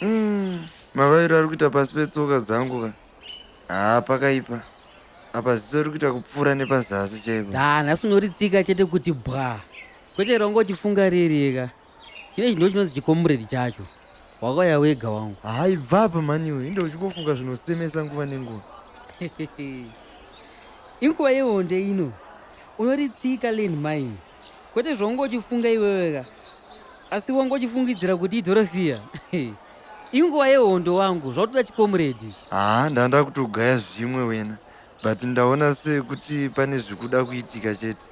Mm, mavairo ari kuita pasi petsoka dzangu ka haa pakaipa apa ziso riri kuita kupfuura nepazasi chaipo da nhasi unoritsika chete kuti bwa kwete rongoti funga ririeka Chine chinhu chinonzi chikomuredi chacho wakauya wega wangu haibva apa maniwe inde uchingofunga zvinosemesa nguva nenguva inguva yehonde ino unoritsika land mine kwete zvaunge uchifunga iweweka asi wange uchifungidzira kuti idhorofiya inguva yehondo wangu zvautoda chikomuredi haa ndanda kutogaya zvimwe wena but ndaona sekuti pane zvikuda kuitika chete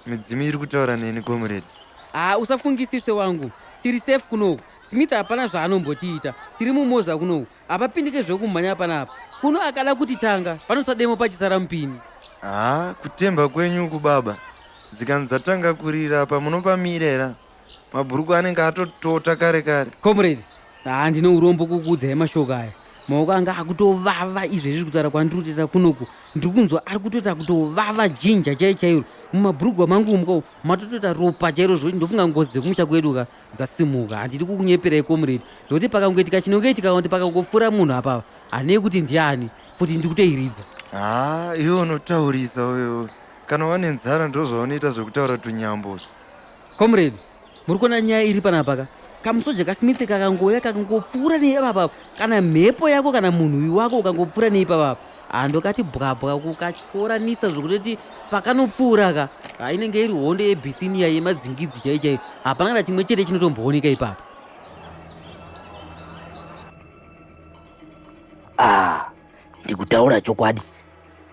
Midzimu iri kutaura neni comrade. Haa usafungisise wangu. Tiri safe kunoku. Smith hapana zvaanombotiita. Tiri mumoza kunoku. Hapapindike zvekumhanya panapa. Kuno akada kuti tanga panotsva demo pachisara mupini. Haa kutemba kwenyu uku baba. Dzikanzi dzatanga kurira apa munopamirera. mabhurukwa anenge atotota kare kare comrade haa ndine urombo kukuudzai mashoko aya maoko anga akutovava izvezvi kutaura kwandiri kutoita kunoku ndiri kunzwa ari kutoita kutovava jinja chai chairo mumabhurugwa mangu umukao matotoita ropa chairo zvokuti ndofunga ngozi dzekumusha kwedu ka dzasimuka handidi kukunyeperai comrade zvokuti pakangoitika chinongeitika kuti pakangopfuura munhu apava hanei kuti ndiani futi ndiri kutoiridza haa iwe unotaurisa uyo kana wane nzara ndozvaunoita zvekutaura tunyambo Comrade, muri kuona nyaya iri panapa ka? Kamusoja kaSmith kakangouya kakangopfuura neipapa kana mhepo yako kana munhuwi wako ukangopfuura neipapa hando kati bwabwa kukatyoranisa zvokutoti pakanopfuura ka hainenge iri hondo yebisinia yemadzingidzi chai chai hapana kana chimwe chete chinotombooneka ipapa ah, ndikutaura chokwadi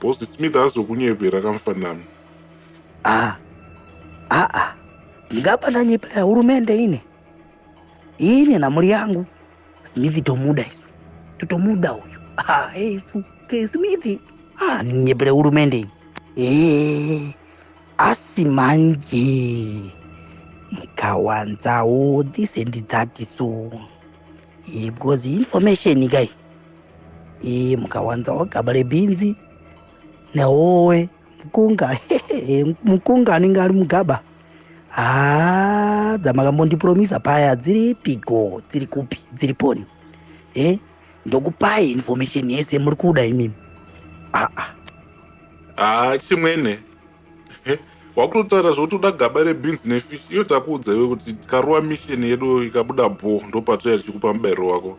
Boss Smith azokunyepera kamfanami. Ah, ah, ah. Ndingapa ndanyepera hurumende ine. Ine na mhuri yangu. Smith tomuda isu. Totomuda uyu. Ah, hey, isu. Ke Smith. Ah, nyepera hurumende ine. Eh, asi manje. Mkawanzawo this and that so. iyi because information kai iyi mukawanza ogaba rebhinzi nehowe mukunga mukunga anenge ari mugaba haa dzamakamondipuromisa paya dziri piko dziri kupi dziri poni e eh, ndokupai information yese muri kuda imimi aa haa chimwene wakutotaura zvokuti uda gaba rebeans nefish iyo takuudza iwe kuti tikaruwa mission yedu ikabuda bho ndopatoya tichikupa mubairo wako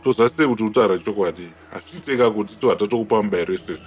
tozasei kuti utaura chokwadi hazviiteka kuti to hatatokupa mubairo isvezvi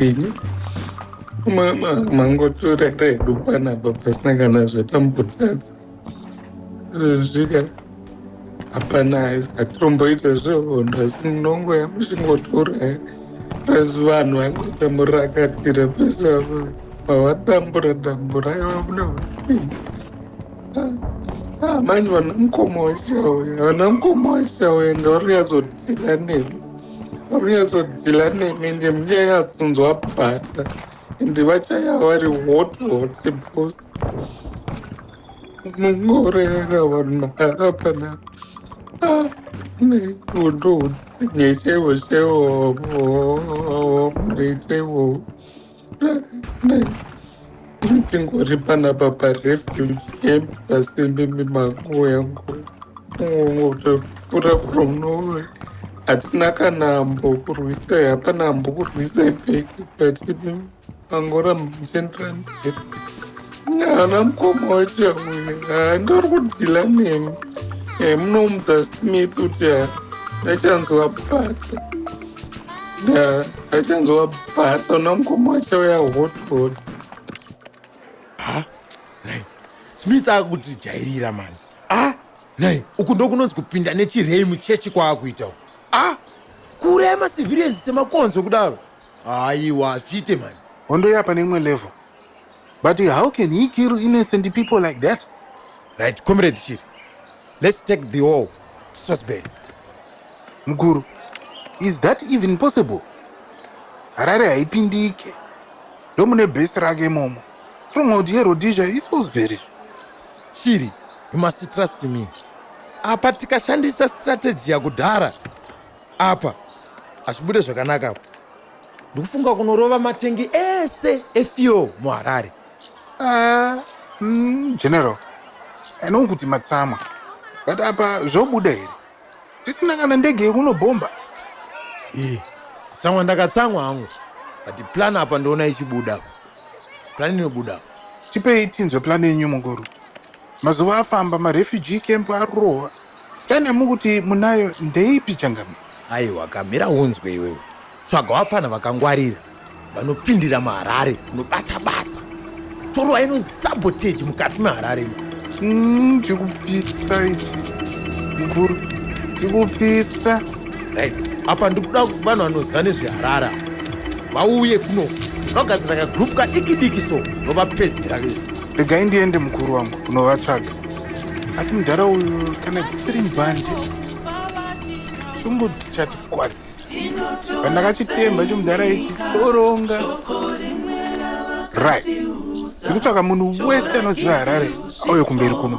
Ini mama mangotora redu panapa pasina kana zvatambotadza zvezvika hapana hatitomboita zvehondo asi munongo yamuchingotora pasi vanhu vanoita murakatira pasi avo vavatambura tambura iva mune vasimba amani vana mukoma wachauya vana mukoma wachauya ngauri yazodzira nemi Unyatsodhila nemi ndi munyanyatsunzwa bhata ende vachaya vari hot hot bos mungoreera vanhu mahara panapa ah, nekundoutsinye chaivo chaivo mrechaivo ndingori panapa parefugee camp pasembe mimango yangu ngotofura from nowhere hatina kana ambo kurwisa hapana ambo kurwisa ipeki but angora muchenderana mberi haana mukoma wacho uyu handori kudhila nemi eh, munomudza smith kuti ndachanzwa basa Akanzwa bhato nomukoma wacho uya hot hot. Ha? Nai. Smith akuti jairira manje. Ah, nai. Uku ndokunonzi kupinda nechirei muchechi kwaakuita uku. Ah, kuuraya macivilians semakonzo kudaro. Aiwa, zvite manje. Hondo yapa neimwe level. But how can he kill innocent people like that? Right, comrade Shiri. Let's take the all to Sosbury. Mkuru, is that even possible? Harare haipindike. Ndomune base rake momo. Stronghold yeRhodesia is Sosbury. Shiri, you must trust me. Apa tikashandisa strategy yakudhara. Apa hazvibude zvakanaka apa. ndikufunga kunorova matengi ese efuel muharare ah, mm, general anoo kuti matsamwa but apa zvobuda here tisina kana ndege yekunobhomba e kutsamwa ndakatsamwa hangu but plan apa ndoona ichibuda plan inobuda tipei tinzwe plan yenyu mukuru Mazuva afamba marefugee camp arurova. Kani amukuti munayo ndeipi changamire? Aiwa kamira unzwe iwewe. Tsvaga wapfana vakangwarira vanopindira muHarare kunobata basa. Torowa ino sabotage mukati meHarare ino. Mm, chikupisa ichi. Mukuru, chikupisa. Right. Apa ndikuda vanhu vanoziva nezveHarare vauye kuno. Ndogadzira kagroup kadiki diki so ndovapedzera vese. regai ndiende mukuru wangu kunovatsvaga asi mudhara uyu kana dzisiri mbanje shungu dzichatikwadzisa pandakachitemba chomudhara ichi toronga right ndikutsvaka munhu wese anoziva harare auye kumberi kuno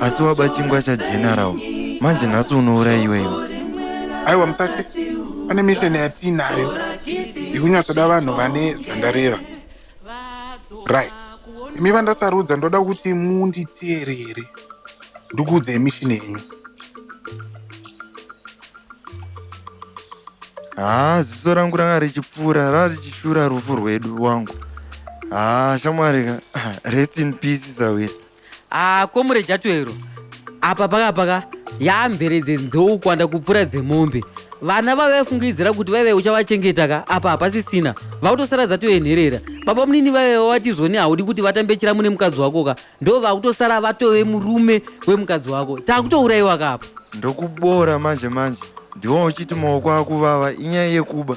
asi waba chingwa chageneral manje nhasi unouraiwa iwe aiwa musati pane mission yatiinayo yekunyatsoda vanhu vane zvandareva right imi vandasarudza ndoda kuti munditeerere ndikuudza emission yenyu haa ziso rangu ranga richipfuura rava richishura rufu rwedu wangu haa shamwari rest in peace sawira haa komure jatwero apa pakapaka yaamvere dzenzou kuwanda kupfuura dzemombe vana vave vafungidzira kuti vaive uchavachengeta ka apa hapasisina vakutosara dzatoenherera baba munini vaive vavati zvoni haudi kuti vatambe chiramu nemukadzi wako ka ndo vakutosara vatove murume wemukadzi wako takutourayiwa ka apa ndokubora manje manje ndiwo uchiti maoko akuvava inyaya yekuba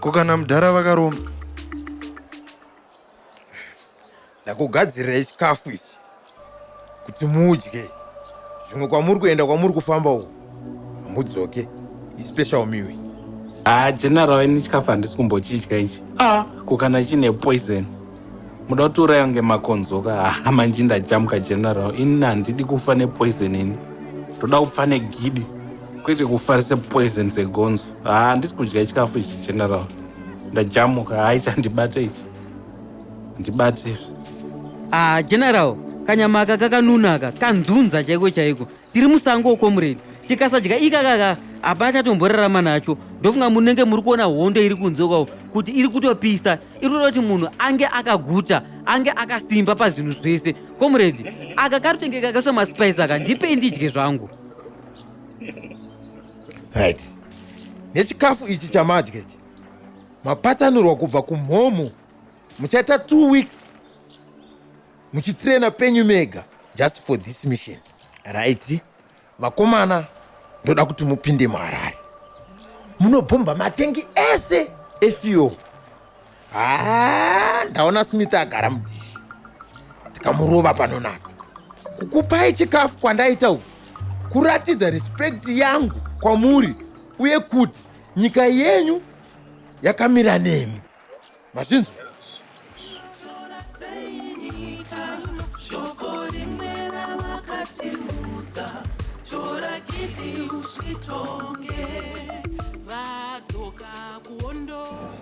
ko kana mudhara vakaromba ndakugadzirirai chikafu ichi kuti mudye zvimwe kwamuri kuenda kwamuri kufamba uku hamudzoke ispecial miwi haa general ini chikafu handisi kumbochidya ichi ah ko kana chine poison muda kuti uraya kunge makonzoka haa manji ndajamuka general ini handidi kufa nepoison ini ndoda kufa negidi kwete kufa sepoison segonzo haa handisi kudya chikafu ichi general ndajamuka hayi chandibate ichi ndibate izvi ah general kanyama aka kakanuna aka kanzunza chaiko chaiko tiri musango comrade tikasadya ikakaka hapana chatomborarama nacho ndofunga munenge muri kuona hondo iri kunze kwavo kuti iri kutopisa iri kuda kuti munhu ange akaguta ange akasimba pazvinhu zvese comrade aka karutenge kakaiswa maspice aka ndipei ndidye zvangu right nechikafu ichi chamadya ichi mapatsanurwa kubva kumhomho muchaita two weeks muchitraina penyu mega just for this mission right vakomana ndoda kuti mupinde muharare munobhomba matengi ese efuel haa ndaona smith agara mudhishi tikamurova panonaka kukupai chikafu kwandaita uku kuratidza respect yangu kwamuri uye kuti nyika yenyu yakamira nemi mazvinzwa